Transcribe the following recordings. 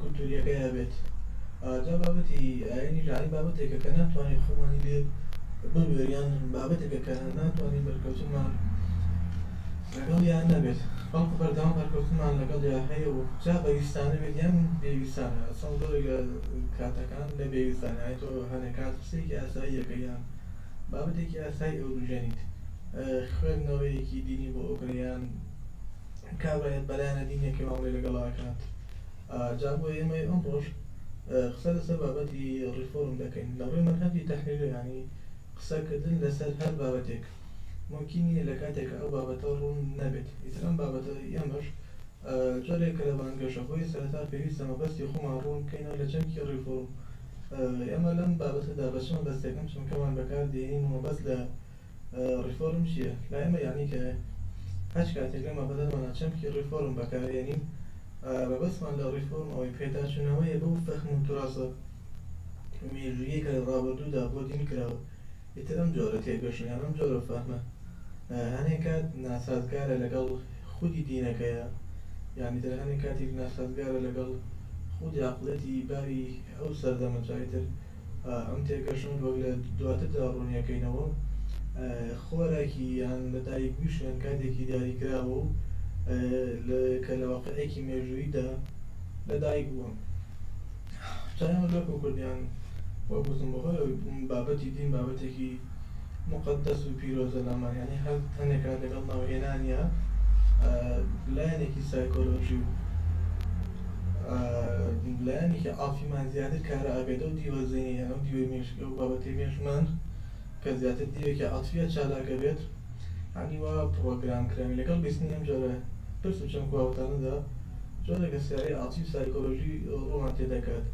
کولتوورییەکەی هەبێت. جا بابەتی ئایینی لە ئایین بابەتێکە کە ناتوانین خۆمانی لێ ببوێرین یان بابەتێکە کە ناتوانین بەرکەوتنمان لەگەڵیا نەبێت، بەڵکو بەردەوام بەرکەوتنمان لەگەڵیا هەیە و جا بەویستانە بێت یان بێویستانە، ئەسڵەن زۆرێک لە کاتەکان لە بێویستانە، یانی تۆ هەنێک کات قسەیەکی ئاساییەکە یان بابەتێکی ئاسایی ئەوروژێنیت، خوێندنەوەیەکی دینی بۆ ئەوکرێ یان. کار بە بەلایەنە دینیەکەی مامەلەی لەگەڵ ئەکات جا بۆ ئێمەی ئەمڕۆش قسە لەسەر بابەتی ڕیفۆرم دەکەین لە ڕووی مەنهەجی تەحلیلی ینی قسەکردن لەسەر هەر بابەتێک ممکن نیە لە کاتێکە ئەو بابەتە ڕوون نەبێت ئیتر ئەم بابەتە ئێمەش جۆرێکە لە بانگەشە بۆیە سەرەتا پێویستە مەبەستی خۆمان ڕوون بکەینەوە لە چەمکی ڕیفۆرم ئێمە لەم بابەتەدا بە چ مەبەستێک ئەم چەمکەمان بەکاردێنین و مەبەست لە ڕیفۆرم چیە لای ئێمە یانی کایە؟ هەچ کاتێک لەم بابەتەدانا چەمکی ڕیفۆرم بەکارێنین مەبەستمان لە ڕیفۆرم ئەوەی پێداچونەوەیە بەو فەهم و توراسە مێژوویەی کە لە ڕابردوودا بۆ دین کراوە ئیتر ئەم جۆرە تێگەشتن یان ئەم جۆرە فەهمە هەنێ کات ناسازگارە لەگەڵ خودی دینەکەیا یان ئیتر هەنێ کاتیش ناسازگارە لەگەڵ خودی عەقڵیەتی باری ئەو سەردەمە جا ئیتر ئەم تێگەشتن وەک لە دواتردا ڕوونیەکەینەوە خۆراکی یان لە دایک بویشیان کاتێکی دیاریکراوە و کە لە واقعێکی مێژوویدا لە دایک بووە چایەوە لۆکۆ کوردیان وەک وتم بەهۆی بابەتی دین بابەتێکی موقەدەس و پیرۆزە لامان یانی هەر تەنێکە لەگەڵ ناوهێنانیا لایەنێکی سایکۆلۆژی و لایەنێکی عافیمان زیاتر کارە ئابێت و دیوە زینی یان ئەو دیوەی مێشکی ئەو بابەتی مێشمان کە زیاتر دیوێکی عاتفیە چالاکە بێت ینی وا پرۆگرام کراوی لەگەڵ بیستنی ئەم جۆرە پرس و چەمک واوتانەدا جۆرێکە سیارەی عاتیف سایکۆلۆژی ڕوومان تێدەکات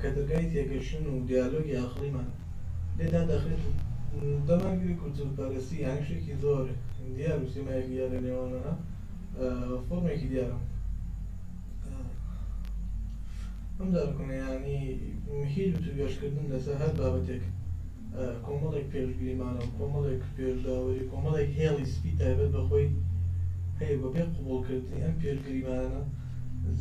کە دەرگای تێگەشتن و دیالۆگی ئاخڵیمان لێ دادەخرێت و دەمارگیری کولتوورپەرەستی یانی شتێکی زۆر دیار و سیمایەکی دیار لە نێوانمانا فۆرمێکی دیارە ئەم دارکۆنە یانی مهیل و توێژکردن لەسەر هەر بابەتێک کۆمەڵێک پێشگریمانە و کۆمەڵێک پێشداوەری کۆمەڵێک هێڵی سپی تایبەت بە خۆی هەیە بەبێ قبوڵکردنی ئەم پێشگریمانە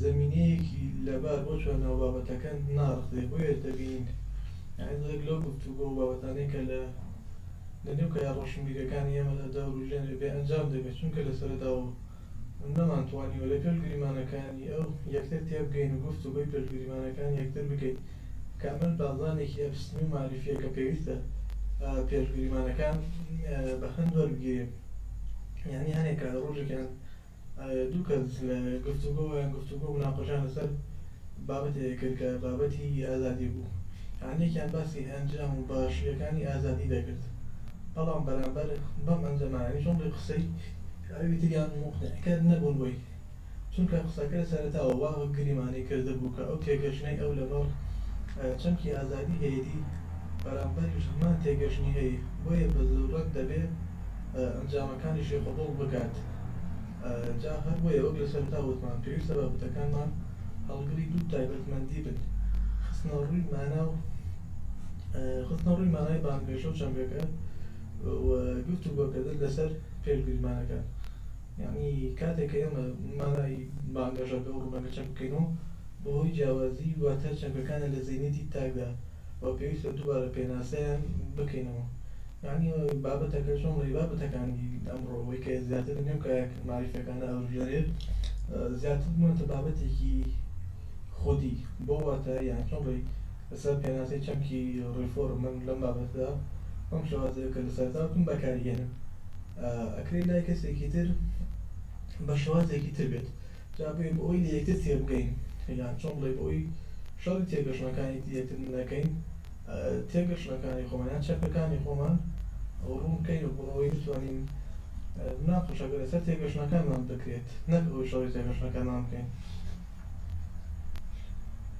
زەمینەیەکی لەبار بۆ چوار ناو بابەتەکە ناڕزێ بۆیە دەبینین یانی زۆرێک لەو گفتوگۆ و بابەتانەی کە لە لە نێو کایە ڕۆشنبیریەکانی ئێمەدا دەوروژێنێ بێ ئەنجام دەبێ چونکە لە سەرەتاوە نەمان توانیوە لە پێل گریمانەکانی ئەو یەکتر تێبگەین و گفتوگۆی پێل گریمانەکانی یەکتر بکەین کە ئەمەش بازانێکی ئەفسنی و مەعریفیە کە پێویستە پێل گریمانەکان بە هەند وەربگیرێ یانی هەنێ کات ڕۆژێکیان دوو کەس گفتوگۆ یان گفتوگۆ و مناقەشەیان لەسەر بابەتێک کرد کە بابەتی ئازادی بوو، یان یەکیان باسی ئەنجام و باشییەکانی ئازادی دەکرد، بەڵام بەرامبەر بەم ئەنجامە یانی جۆڵی قسەی ئەوی تریان موقنعکەر نەبوون بۆی، چونکە قسەکە لە سەرەتاوە وا گریمانەی کردبوو کە ئەو تێگەشتنەی ئەو لەمەڕ چەمکی ئازادی هەیەتی، بەرامبەریش هەمان تێگەشتنی هەیە، بۆیە بە زوڕرەت دەبێ. ئەنجامەکانیشی قبوڵ بکات جا هەر بۆیە وەک لە سەرەتا وتمان پێویستە بابەتەکانمان هەڵگری دوو تایبەتمەندی بن خستنە ڕووی مانا و خستنە ڕووی مانای بانگەشە و چەمکەکە و گفتوگۆکردن لەسەر پێشگریمانەکان یعنی کاتێک کە ئێمە مانای بانگەشەکە و ڕوونەکە چەک بکەین و بەهۆی جیاوازی واتە چەمکەکانە لە زەینەتی تاکدا و پێویستە دووبارە پێناسەیان بکەینەوە یانی بابەتەکە چۆن بڵێ بابەتەکانی ئەمڕۆ ئەوەی کە زیاتر بن لەم کایە مەعریفەکانە ئەوروژێنێت زیاتر بوونەتە بابەتێکی خودی بۆ واتە یان چۆن بڵێ لەسەر پێناسەی چەمکی ڕیفۆرم من لەم بابەتدا ئەم شێوازەیە کە لە سەرتاوتم بەکاریهێنم ئەکرێ لای کەسێکی تر بە شێوازێکی تر بێت جا بۆیە بۆ ئەوەی لە یەکتر تێبگەین یان چۆن بڵێی بۆ ئەوەی شەڕی تێگەشتنەکانی دی یەکتر نەکەین تێگەشتنەکانی خۆمان یان چەکەکانی خۆمان ڕوون بکەین و بۆ ئەوەی بتوانین مناقەشەکە لەسەر تێگەشتنەکانمان بکرێت نەک ئەوەی شەڕی تێگەشتنەکانمان بکەین.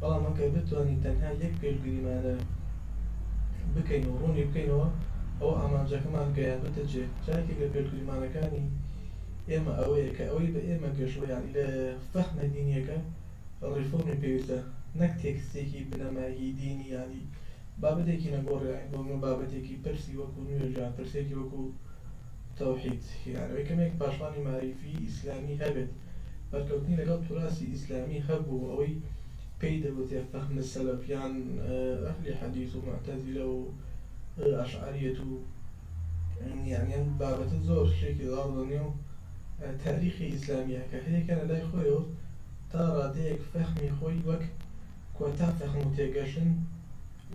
بەڵام ئەگەر بتوانین تەنها یەک پێشگریمانە بکەین و ڕوونی بکەینەوە ئەوە ئامانجەکەمان گەیاندووتە جێ، جاێکێک لە پێشگریمانەکانی ئێمە ئەوەیە کە ئەوەی بە ئێمە گەشتووە یانی لە فەهمە دینیەکە ڕیفۆرمی پێویستە نەک تێکستێکی بنەمایەکی دینی یانی بابەتێکی نەگۆڕ یانی بۆ من بابەتێکی پرسی وەکو نوێژ یان پرسێکی وەکو تەوحید، هینا ئەوەی کەمێک پاشمانی مەعریفی ئیسلامی هەبێت بەرکەوتنی لەگەڵ توراسی ئیسلامی هەبوو و ئەوەی پێی دەگوترێت فەهم سەلەف یان ئەهلی حەدیس و موعتەزیلە و ئەشعەریەت و یانی ئەم بابەتە زۆر شتێکی غاڵ لە نێو تاریخی ئیسلامیە کە هەریەکە لە لای خۆیەوە تا ڕادەیەک فەهمی خۆی وەک کۆتا فەهم و تێگەشتن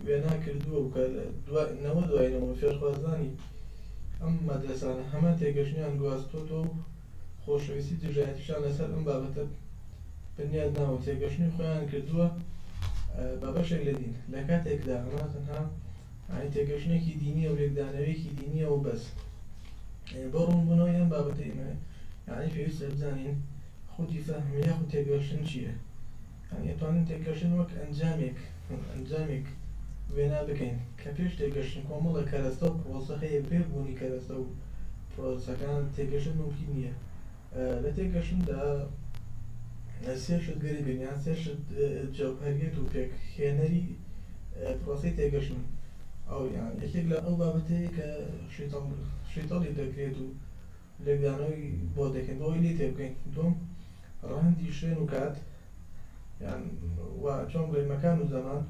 وێنا کردووە و کە نەوە دوای نەوە فێرخوازانی ئەم مەدرەسانە هەمان تێگەشتنیان گواستۆتەوە و خۆشەویستی و دژایەتیشیان لەسەر ئەم بابەتە بنیاد ناوە و تێگەشتنی خۆیان کردووە بە بەشێک لە دین لە کاتێکدا ئەمە تەنها یانی تێگەشتنێکی دینییە و لێکدانەوەیەکی دینییە و بەس بۆ ڕوونبوونەوەی ئەم بابەتە ئێمە یانی پێویستە بزانین خودی فەهم یاخود تێگەشتن چییە؟ دەتوانین تێگەشتن وەک ئەنجامێک ئەنجامێک وێنا بکەین کە پێش تێگەشتن کۆمەڵە کەرەستە و پرۆسە هەیە بێ بوونی کەرەستە و پرۆسەکان تێگەشتن مومکین نییە لە تێگەشتندا سێ شت گرنگن یان سێ شت جەوهەریەت و پێک هێنەری پرۆسی تێگەشتن ئەو یان یەکێک لە ئەو بابەتەیە کە شیتەڵ شیتەڵی دەکرێت و لێکدانەوەی بۆت دەکەین بۆ ئەوەی لێی تێبگەین دووەم ڕەهەندی شوێن و کات یان و چۆن بڵێین مەکان و زەمان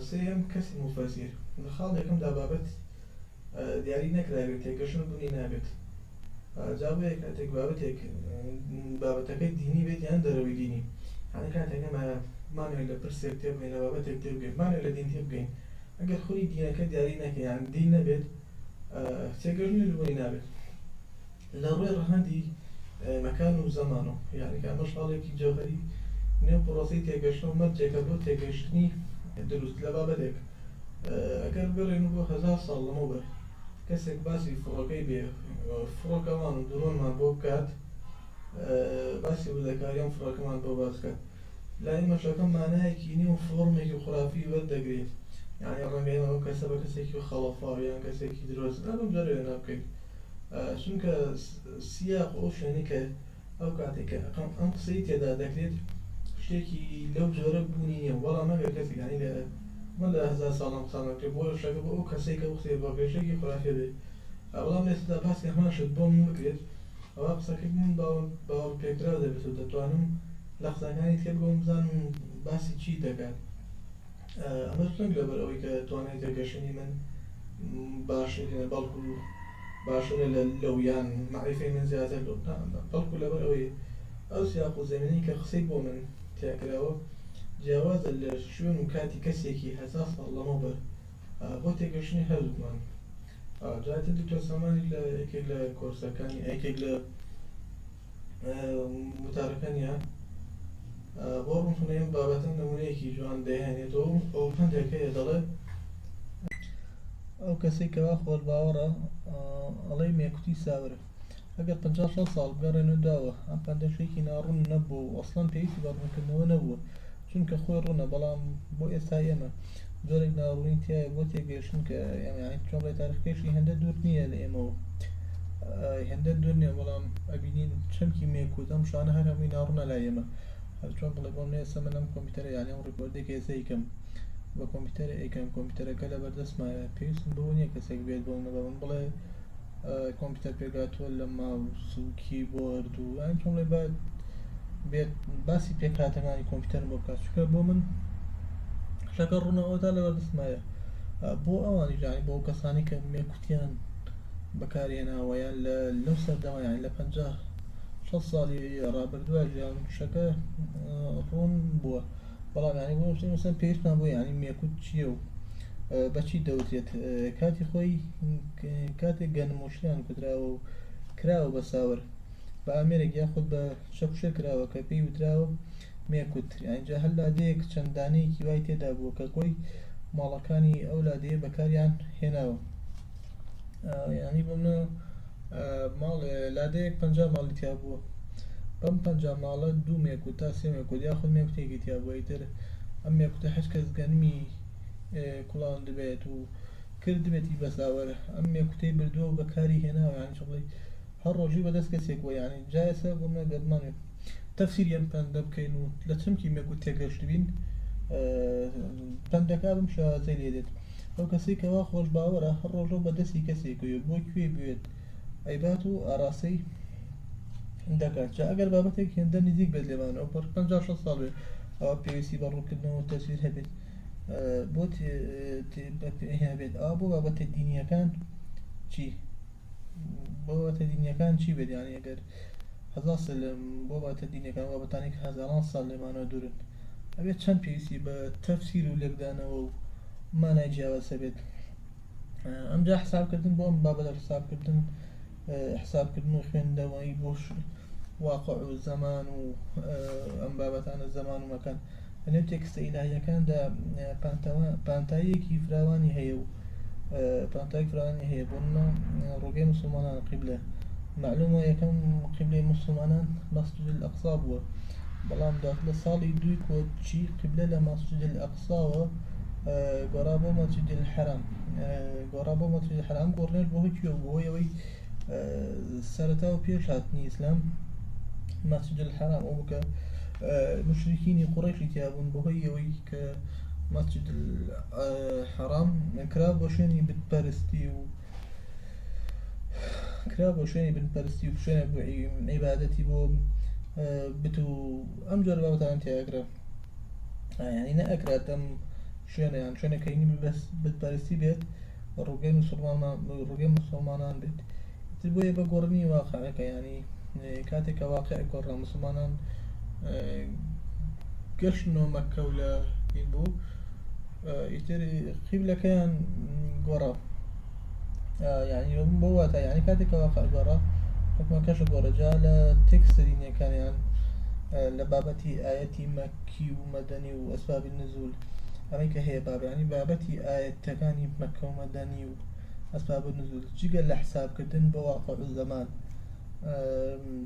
سێیەم کەسی موفەسیر لە خاڵ یەکەمدا بابەت دیاری نەکراوێت تێگەشتن بوونی نابێت جا بۆیە کاتێک بابەتێک بابەتەکەی دینی بێت یان دەرەوەی دینی هەنە کاتێک ئەمە مانوێت لە پرسێک تێبگەین لە بابەتێک تێبگەین مانوێت لە دین تێبگەین ئەگەر خودی دینەکە دیاری نەکەیان دین نەبێت تێگەیشتن و لوبەری نابێت لە ڕووی ڕەهەندی مەکان و زەمانەوە، یانی کە ئەمەش هەڵێکی جەوهەری نێو پڕۆسەی تێگەیشتنە و مەرجێکە بۆ تێگەیشتنی دروست لە بابەتێک. ئەگەر بگەڕێین بۆ هەزار ساڵ لەمەوبەر کەسێک باسی فڕۆکەی بێ فڕۆکەوان و درۆنمان بۆ بکات، باسی وردەکاری ئەم فڕۆکەمان بۆ باس بکات، لای مەشەکە مانایەکی نوێ و فۆڕمێکی خورافی وەردەگرێ یانی ڕەنگە ئێمە ئەم کەسە بە کەسێکی خەڵەفاو یان کەسێکی درۆزن ئەم بەم جۆرە وێنا بکەین چونکە سیاق و ئەو شوێنەی کە ئەو کاتێک کە ئەقەم ئەم قسەی تێدا دەکرێت شتێکی لەو جۆرە بوونی نییە بەڵام ئەگەر کەسی یانی لە من لە هزار ساڵم قسان دەکرێت بۆ شەکە بۆ ئەو کەسێک کە قسەی بۆ گەشتێکی خورافێ بێ بەڵام لێستا باس کە هەمان شت بۆ من بکرێت ئەوە قسەکەی من باوەڕ باوەڕ پێکراو دەبێت و دەتوانم لە قسەکانی تێبگەم و بزانم باسی چی دەکات ئەمەش نەک لەبەر ئەوەی کە توانای تێگەشتنی من باشترینە بەڵکو باشترە لە لەو یان معریفەی من زیاتر لەو بەڵکو لەبەر ئەوەی ئەو سیاق و زەمینەی کە قسەی بۆ من تیاکراوە جیاوازە لە شوێن و کاتی کەسێکی هەزار ساڵ لەمەوبەر بۆ تێگەشتنی هەردووکمان جاتر دکتۆر سامانی لە یەکێک لە کۆرسەکانی ئەکێک لە وتارەکە نییە بۆ ڕوونکردنەوەی ئەم بابەتە نموونەیەکی جوان دەیهێنێتەوە و ئەو پندێک هەیە دەڵێت ئەو کەسێک کەوا خۆر باوەڕە ئەڵەی مێکوتی ساورە ئەگەر 56 ساڵ بگەڕێنە داوە ئەم پندەشێکی ناڕوون نەبوو و ئەسڵەن پێویستی بە ڕوونکردنەوە نەبووە چونکە خۆی ڕوونە بەڵام بۆ ئێستای ئێمە جۆرێک ناڕوونی تیایە بۆ تێگەیشتن کە یانەی چۆڵی تاریخەکەشی هێندە دوور نییە لە ئێمەوە هێندە دوور نییە بەڵام ئەبینین چەمکی مێک و دەم شانە هەر هەمووی ناڕوونە لای ئێمە هەرچۆن بڵێ بۆم نێسە من ئەم کۆمپیوتەرە یانە ئەم ڕیکۆردێک هێزە یکەم بە کۆمپیوتەرە ئەیکەم کۆمپیوتەرەکە لە بەردەستمایە پێویستم بەوە نییە کەسێک بێت بۆ منە بە من بڵێ کۆمپیوتەر پێکهاتووە لە ماوس و کیبۆرد و یان چۆن بڵێ با بێت باسی پێکهاتەکانی کۆمپیوتەر بۆ بکات چونکە بۆ من شەکە ڕوونە ئەوەتا لەوە دەستمایە بۆ ئەوانی جانی بۆ کەسانی کە مێکوتیان بەکارهێناوەیان لە لەو سەردەمەیان لە پ ساڵی ڕابردووە ژیان شەکە ڕوون بووە بەڵام یانی بۆ شتێ مەسەن پێویستمان بۆ یانی مێکوت چییە و بەچی دەوترێت کاتی خۆی کاتێک گەنم و شتیان کوتراوە و کراوە بە ساور بە ئامێرێک یاخود بە شەکوشە کراوە کە پێی وتراوە مێکوت ئەنجا هەر لادەیەک چەند دانەیەکی وای تێدا بووە کە کۆی ماڵەکانی ئەو لادەیە بەکاریان هێناوە یانی بۆ منە ماڵێ لادێیەک پەنجا ماڵی تیا بووە بەم پەنجا ماڵە دوو مێکو تا سێ مێکوت یاخود مێکوتێکی تیا بووە ئیتر ئەم مێکوتە هەچ کەس گەنمی کوڵان دبێت و کردبێتی بەساوەر ئەم مێکوتەی بردووە بە کاری هێناوە یان چڵی هەر ڕۆژی بەدەست کەسێک وە یانی جایسە گومە گەبمانێ تەفسیر یەم پەندە بکەین و لە چمکی مێکوت تێگەشتبین پەندەکە بم شازەی لێ دێت ئەو کەسەی کە وا خۆش باوەرە هەر ڕۆژەو بە دەستی کەسێکەوە بۆ کوێی بوێت ئەیبات و ئاراستەی دەکات جا ئەگەر بابەتێک هێندە نزیک بێت لێمان ئەو پڕ پەنجا شەست ساڵ بێت ئەوە پێویستی بە ڕوونکردنەوە تەسویر هەبێت بۆ هەبێت ئەوە بۆ بابەتە دینیەکان چی بۆ بابەتە دینیەکان چی بێت یانی ئەگەر هەزار سلم بۆ باتە دینەکان وا بتانەی کە هەزاران سال لێمانەوە دورن ئەبێت چەند پێویستی بە تەفسیر و لێکدانەوە و مانای جیاواز هەبێت ئەمجا حسابکردن بۆ ئەم بابەتە حسابکردن حسابکردن و خوێندەوەی بۆ واقع و زەمان و ئەم بابەتانە زەمان و مەکان لەنێو تێکستە ئیلاهییەکاندا پانتاییەکی فراوانی هەیە و پانتاییەکی فراوانی هەیە بۆ منە ڕۆگەی مسلمانان قیبلە معلومە یەکەم قیبلەی مسلمانان مەسجد الأقصا بووە بەڵام دواتر لە ساڵی دووی کۆچی قیبلە لە مەسجد الأقصاوە گۆڕا بۆ مەسجد الحرام گۆڕا بۆ مەسجد الحرام گۆڕنێش بۆ هەکیوە بۆ ئەوەی سەرەتا و پێش هاتنی ئیسلام مەسجد الحرام ئەو بکە مشرکینی قوڕیشی تیابوون بەهۆی ئەوەی کە مەسجد حرام کرا بۆ شوێنی بتپەرستی و کرا بۆ شوێنی بنپەرستی و شوێنە بۆ عیباەتی بۆ بت و ئەم جۆر بەوتان تیاگرە ینی نەئەکراتم شوێنیان شوێنەکەینی بەس بتپەرستی بێت ڕووگەی موسڵمانان ڕووگەی موسڵمانان بێت ئیتر بۆیە بە گۆڕنی واقعەکە یانی کاتێک کە واقع گۆڕا موسڵمانان گەشتنەوە مەکە و لە این بوو ئیتر قیبلەکەیان گۆڕا یعنی بۆ واتە یعنی کاتێک کە واقع گۆڕا حکومەکەش گۆڕەجا لە تێکستە دینیەکانیان لە بابەتی ئاەتی مەکی و مەدەنی و اسباب النزول ئەوەی کە هەیە بابە یانی بابەتی ئایەتەکانی مەککە و مەدەنی و اسباب النزول جگە لە حساب کردن بۆ واقع الزمان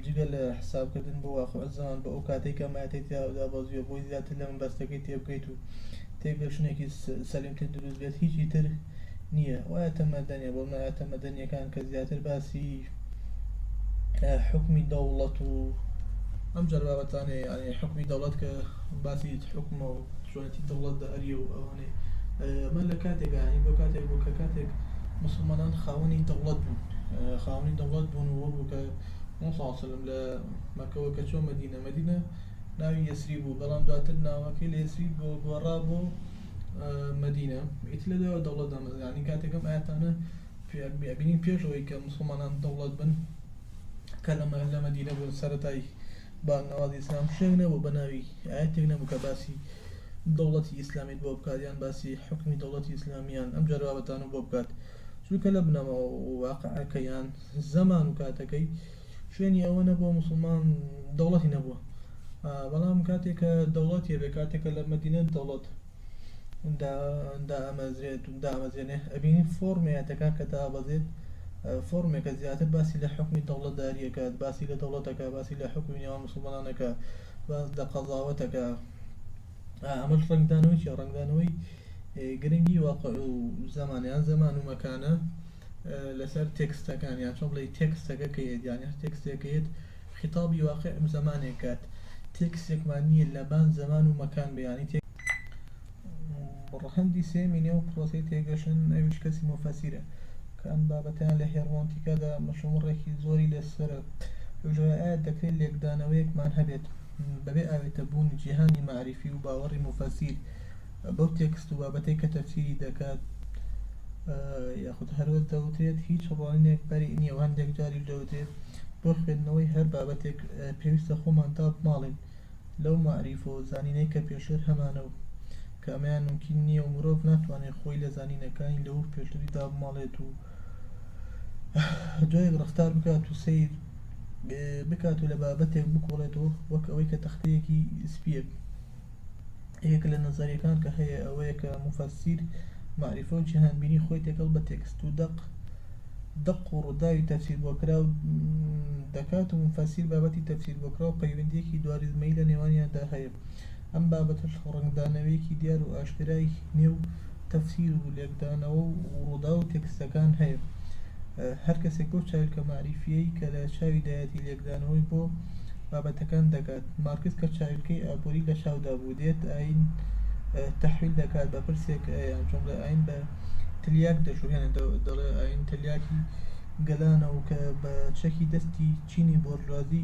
جگە لە حساب کردن بۆ واقع الزمان بۆ ئەو کاتێک کە مایەتی تیادا بەزیوە بۆی زیاتر لە من بەستەکەی تێبگەیت و تێگەشتنێکی سەلیمتر دروست بێت هیچی تر نییە وایە تەمەدەنیە بۆ مایە تەمەدەنیەکان کە زیاتر باسی حوکمی دەوڵەت و ئەم جۆر بابەتانێ یعنی حکومی دەوڵەت کە باسی حکومە و چۆنێتی دەوڵەت دە ئەریە و ئەوانێ من لە کاتێکانی بۆ کاتێک بۆ کە کاتێک مسلمانان خاوەنی دەوڵەت بوون خاوەنی دەوڵەت بوون و بوو کە ساڵسلم لە مەکەوە کە چۆن مەدینە مەدینە ناوی یەسری بوو بەڵام دواتر ناوەکەی لە یەسری بۆ گۆڕا بۆ مەدینە ئیت لە دەوڵەت دامەزرانی کاتێکم ئاەتانە ئەبینین پێش ئەوەی کە موسڵمانان دەوڵەت بن کە لە مەدینە بوون سەرەتای با نەوازی ئیسلام شوێنێک نەبوو بە ناوی ئاەتێک نەبوو کە باسی دەوڵەتی ئیسلامیت بۆ بکات یان باسی حکمی دەوڵەتی ئیسلامیان ئەم جەربابەتانە بۆ بکات چونکە لە بنەما واقعەکەیان زەمان و کاتەکەی شوێنی ئەوە نەبووە مسلمان دەوڵەتی نەبووە بەڵام کاتێکە دەوڵەتێ بێ کاتێکە لە مەدینە دەوڵەت دامەزرێت و دامەزرێنێ ئەبینین فۆرمێتەکە کە دابەزێت فۆرمێکە زیاتر باسی لە حکومی دەوڵەتداریەکە باسی لە دەوڵەتەکە باسی لە حکومی نێوان مسلمانانەکە باز لە قەزاوەتەکە ئەمەش ڕنگدانەوەی ڕنگدانەوەی گرنگی واقع و زمانیان زەمان و مەکانە لەسەر تێکستەکان یان چۆن بڵێی تێکستەکە کە یەت یان هەر تێکستێک کە یەت خیتابی واقع زەمانێک کات تێکستێکمان نییە لەبان زەمان و مەکان بیانی تێ ڕەهەندی سێمی نێو پرۆسەی تێگەشتن ئەویش کەسی مۆفەسیرە کە ئەم بابەتیان لە هێرمۆنتیکادا مەشومڕێکی زۆری لەسەرە ئەوژۆە دەکرێت لێکدانەوەیەکمان هەبێت بەبێ ئاوێتە بوونی جیهانی مەعریفی و باوەڕی مۆفەسیر بەو تێکست و بابەتەی کە تەفسیری دەکات یاخود هەروەک دەوترێت هیچ ڕوانینێک بەری نییە و هەندێک جاریش دەوترێت بۆ خوێندنەوەی هەر بابەتێک پێویستە خۆمان تا بماڵین لەو مەعریفە و زانینەی کە پێشتر هەمانە و کە ئەمەیان ممکن نییە و مرۆڤ ناتوانێت خۆی لە زانینەکانی لەو پێشتری دابماڵێت و دوایەک ڕفتار بکات و سیر بکات و لە بابەتێک بکۆڵێتەوە وەک ئەوەی کە تەختەیەکی سپیەک یەکێک لە نەزەریەکان کە هەیە ئەوەیە کە موفەسیر مەعریفە و جیهانبینی خۆی تێکەڵ بە تێکست و دەق دەق و ڕووداوی تەفسیر بۆ کرا و دەکات و موفەسیر بابەتی تەفسیر بۆ کرا و پەیوەندیەکی دواریزمەیی لە نێوانیاندا هەیە ئەم بابەتەش ڕەنگدانەوەیەکی دیار و ئاشکرای نێو تەفسیر و لێکدانەوە و ڕووداو و تێکستەکان هەیە هەر کەسێک بەو چاویلکە مەعریفییەی کە لە چاویدایەتی لێکدانەوەی بۆ بابەتەکان دەکات مارکس کە چاویلکەی ئابووری لە چاودا بوو دێت ئایین تەحویل دەکات بە پرسێک یان جملە ئاین بە تلیاک دەشوهێنێت دەڵێ ئاین تلیاکی گەلانە و کە بە چەکی دەستی چینی بۆرژوازی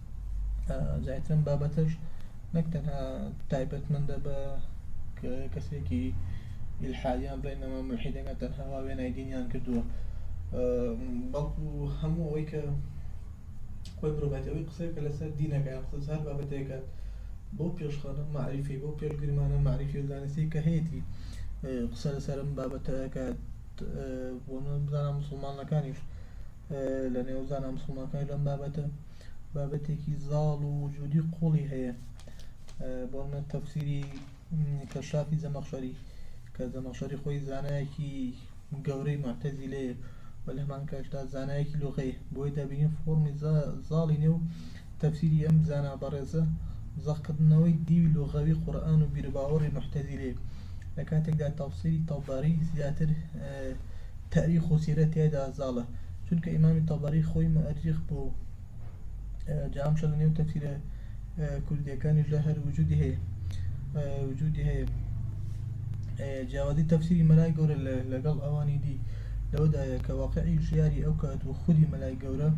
زیاتر ئەم بابەتەش نەک تەنها تایبەتمەندە بە کەسێکی ئیلحادیان بڵێن ئەمە ملحیدەکە تەنها وا وێنای دینیان کردووە بەڵکو هەموو ئەوەی کە خۆی مرۆڤەتی ئەوەی قسەکە لەسەر دینەکە یان قسە هەر بابەتێکە بۆ پێشخانە معریفی بۆ پێشگرمانە معریفی و زانستی کە هەیەی قسە لەسەرم بابەتەکە بۆ بزانە مسلمانەکانیش لە نێو زانا مسلمانەکانی لەم بابەتە بابەتێکی زاڵ و وجودی قوڵی هەیە بۆمە تەفسیری کەشافی زەمەخشەری کە زەمەخشەری خۆی زانایەکی گەورەی معتەزی لەیە و لە هەمان کاشدا زانایەکی لۆغەیە بۆی دەبینین فۆرمی زاڵی نێو تەفسیری ئەم زانا بەڕێزە زەقکردنەوەی دیوی لۆغەوی قورآن و بیرباوەڕی محتەزی لێ لە کاتێکدا تەفسیری تەڵباری زیاتر تاریخ و سیرە تیایدا زاڵە چونکە ئیمامی تەبەری خۆی مۆئەریخ بوو جا ئەم شتە لە نێو تەفسیرە کوردیەکانیشدا هەر وجودی هەیە وجودی هەیە جیاوازی تەفسیری مەلای گەورە لەگەڵ ئەوانی دی لەوەدایە کە واقعی ژیاری ئەو کات و خودی مەلای گەورە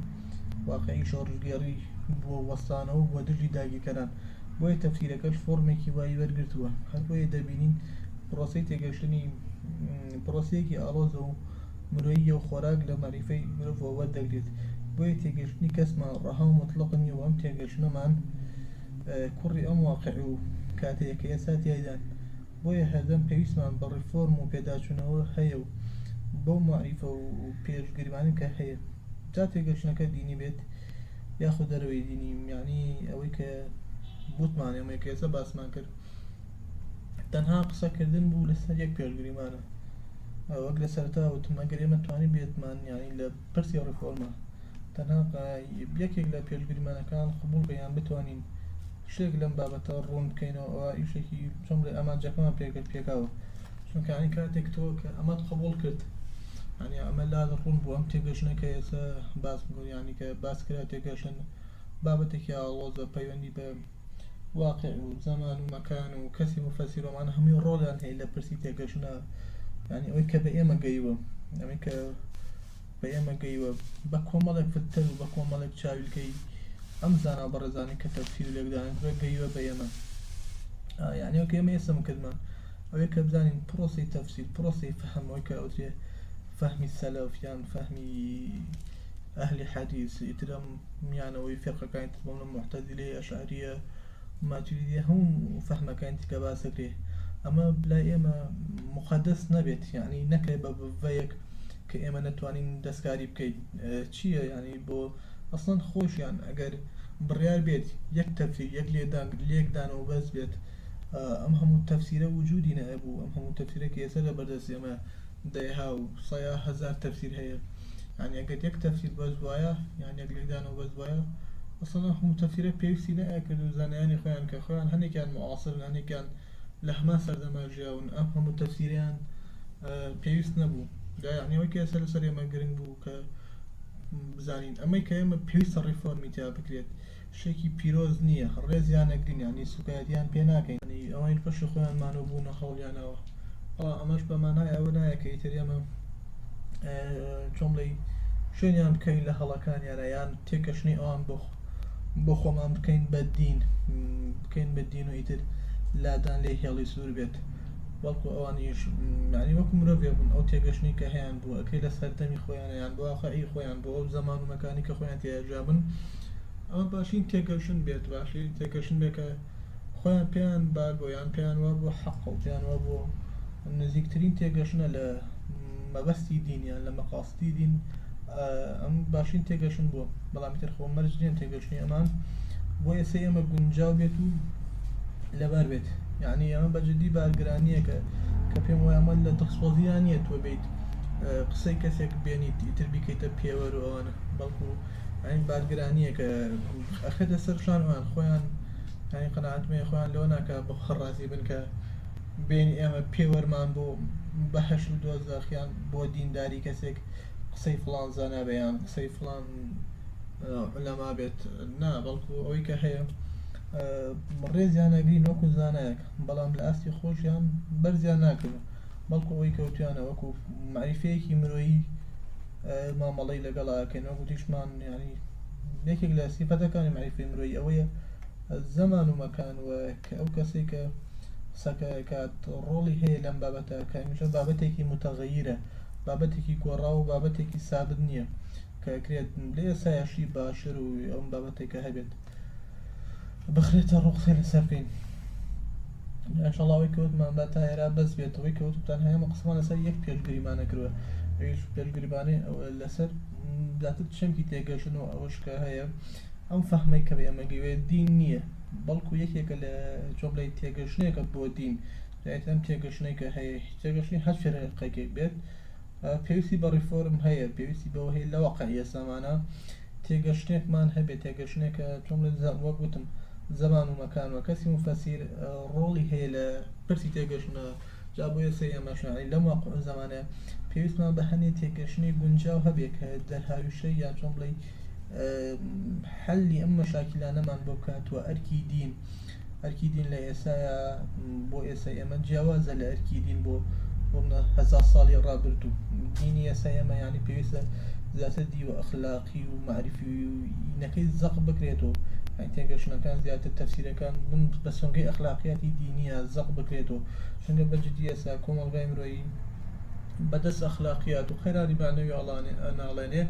واقعی شۆڕژگێڕی بووە وەستانەوە بۆ دژی داگیرکەران بۆیە تەفسیرەکەش فۆرمێکی وای وەرگرتووە هەر بۆیە دەبینین پرۆسی تێگەشتنی پرۆسەیەکی ئاڵۆزە و مرۆییە و خۆراک لە مەعریفەی مرۆڤەوە وەردەگرێت، بۆیە تێگەیشتنی کەسمان ڕەها و موتڵەق نییە و ئەم تێگەیشتنەمان کوڕی ئەم واقع و کاتەیە کە ئێستا تیایدان، بۆیە هەردەم پێویستمان بە ڕێفۆرم و پێداچوونەوە هەیە و بەو مەعریفە و پێش گریمانە کە هەیە، جا تێگەیشتنەکە دینی بێت یاخود دەرەوەی دینی، یەعنی ئەوەی کە ووتمان و ئەمەی کە ئێستا باسمان کرد. تەنها قسە کردن بوو لەسەر یەک پێش گریمانە وەک لە سەرتا وتم ئەگەر ئێمە توانی بێتمان یانی لە پرسی ڕفۆرمە تەنها یەکێک لە پێش گریمانەکان قبول بەیان بتوانین شتێک لەم بابەتە ڕوون بکەینەوە ئەوە ئیشێکی چۆم لە ئامانجەکەمان پێگەت پێکاوە چونکانی کاتێک تۆ کە ئەمەت قبول کرد ینی ئەمە لا ڕوون بوو ئەم تێگەشنەکە ئێستا باس بگوریانی کە باس کرا تێگەشن بابەتێکی ئاڵۆزە پەیوەندی بە واقع و زەمان و مەکان و کەسی موفەسیر و ئەمانە هەمووی ڕۆڵیان هەیە لە پرسی تێگەشتنا یانی ئەوەی کە بە ئێمە گەیوە ئەوەی کە بە ئێمە گەیوە بە کۆمەڵێک فلتەر و بە کۆمەڵێک چاویلکەی ئەم زانا بەڕێزانی کە تەفسیر و لێکدانن بە گەیوە بە ئێمە یانی ئەوکە ئێمە ئێسم کردمە ئەوەی کە بزانین پرۆسی تەفسیر پرۆسی فەهمەوەی کە ئەوترێ فەهمی سەلەف یان فەهمی ئەهلی حەدیث ئیترم میانەوەی فیرقەکانی تر بۆمنە موعتەزیلەیە ئەشعەریە ماتوریدیە هەموو فەهمەکانی تکە باس دەکرێت ئەمە لای ئێمە مقدس نەبێت یعنی نەکرێ بە بڤەیەک کە ئێمە نەتوانین دەستکاری بکەین چییە ینی بۆ ئەسڵەن خۆشیان ئەگەر بڕیار بێت یەک تەفسی یەک لێدان لێکدانەوە بەس بێت ئەم هەموو تەفسیرە وجودی نەبوو ئەم هەموو تەفسیرە کە ئێستا لە بەردەست ئێمە دەیها و سەیا هزار تەفسیر هەیە یانی ئەگەر یەک تەفسیر بەس بوایە یان یەک لێکدانەوە بەس بوایە ئەسڵەن ئەم هەموو تەفسیرە پێویستی نەئەکرد و زانایانی خۆیان کە خۆیان هەندێکیان معاصرن هەندێکیان لە هەمان سەردەما ژیاون ئەم هەموو تەفسیریان پێویست نەبوو دا یعنی ئەوەی کە ئێستا لەسەر ئێمە گرنگ بوو کە بزانین ئەمەی کە ئێمە پێویستە ڕیفۆرمی تیا بکرێت شتێکی پیرۆز نییە ڕێزیان ئەگرین یانی سوکایەتیان پێ ناکەین یانی ئەوەین پەشی خۆیان مان و بوونە هەوڵیانەوە بەڵام ئەمەش بە مانای ئەوە نایە کە ئیتر ئێمە چۆن بڵێی شوێنیان بکەین لە هەڵەکانیانە یان تێکەشنی ئەوان بۆ بۆ خۆمان بکەین بە دین بکەین بە دین و ئیتر لادان لێ هێڵی سوور بێت بەڵکو ئەوانیش معنی وەکو مرۆڤێ بوون ئەو تێگەشتنی کە هەیان بوو ئەکەی لە سەردەمی خۆیانیان بۆ واقعی خۆیان بۆ ئەو زەمان و مەکانی کە خۆیان تێیاژابن ئەوە باشین تێگەشن بێت باشی تێگەشن بێکە خۆیان پێیان باگۆ یان پێیان وا بۆ حەق و پێیان وا بۆ نزیکترین تێگەشنە لە مەبەستی دینیان لە مەقاستی دین ئەم باشین تێگەشن بووە بەڵام تر خۆ مەرج نیە تێگەشتنی ئەمان بۆ ئێستا ئێمە گونجاو بێت و لەبار بێت یعنی ئەمە بەجددی بارگرانیەکە کە پێم وایە ئەمە لە دڵسۆزیان نیە تۆ بیت قسەی کەسێک بێنیت ئیتر بیکەیتە پێوەر و ئەوانە بەڵکو یانی بارگرانیەکە ئەخەێتە سەر شان وان خۆیان یانی قەناتمەیە خۆیان لەوە ناکە بە خڕازی بن کە بین ئێمە پێوەرمان بۆ بەهش و دۆزەخیان بۆ دینداری کەسێک قسەی فلان زانابیان قسەی فلان لەما بێت نا بەڵکو ئەوەی کە هەیە ڕێزیان نەگرین وەکو زانایەک بەڵام لە ئاستی خۆشیان بەرزیان ناکەن بەڵکو ئەوەی کەوتیانە وەکو معریفەیەکی مرۆیی مامەڵەی لەگەڵ ئاکەین وەکو تیشمان یعنی یەکێک لە سیفەتەکانی معیفی مرۆی ئەوەیە زەمان و مەکان و کە ئەو کەسی کە سەکەکات ڕۆڵی هەیە لەم بابەتە کە هەمیشە بابەتێکی متەغەیرە بابەتێکی گۆڕا و بابەتێکی سابت نییە کە کرێت لێ سایەشی باشتر و ئەم بابەتێکە هەبێت بخرێتە ڕوو قسەی لەسەر کەین ان شاء الله ئەوەی کە وتمان با تا ئێرا بەس بێت ئەوەی کە وتتان هەیە هەموو قسەمان لەسەر یەک پێش گریمانە کردووە ئەویش پێش گریمانەی لەسەر زیاتر چەمکی تێگەشتن و ئەوەش کە هەیە ئەم فەهمەی کە ئێمە گەوێ دین نییە بەڵکو یەکێکە لە چۆن بڵێ تێگەشتنێکە بۆ دین دوایت ئەم تێگەشتنەی کە هەیە تێگەشتنی هەر فێرقێکێک بێت پێویستی بە ڕیفۆرم هەیە پێویستی بەوە هەیە لەوەقع ئێسامانە تێگەشتنێکمان هەبێ تێگەشتنێک تۆم لێ دزام وەک وتم زەمان و مەکان و کەسی موفەسیر ڕۆڵی هەیە لە پرسی تێگەشتنە جا بۆیە سەی ئەمەشنانی لەم واقع و زەمانە پێویستمان بە هەنێ تێگەشتنی گونجاو هەبێ کە دەرهاویشتە یا چۆن بڵی حەلی ئەم مەشاکیلانەمان بۆ بکات و ئەرکی دین ئەرکی دین لە ئێسایا بۆ ئێسای ئێمە جیاوازە لە ئەرکی دین بۆ هەزار ساڵی ڕابردوو دینی ئێسای ئێمە یانی پێویستە زیاتر دیوە ئەخلاقی و معرفینەکەی زەق بکرێت و تێگەشتنەکان زیاتر تەفسیرەکان بم بە سۆنگەی ئەخلاقیاتی دینیە زەق بکرێت و چونگە بەجددی ئێسا کۆمەڵگای مرۆیی بەدەست ئەخلاقیات و قەیرانی بانەوی ئەڵانێ ئەناڵێنێ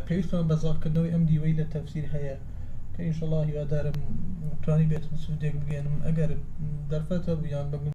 پێویستمان بە زەقکردنەوەی ئەم دیوەی لە تەفسیر هەیە کە ئینشەڵا هیوادارم توانی بێتم سودێک بگەێنم ئەگەر دەرفەتە بوو یان بە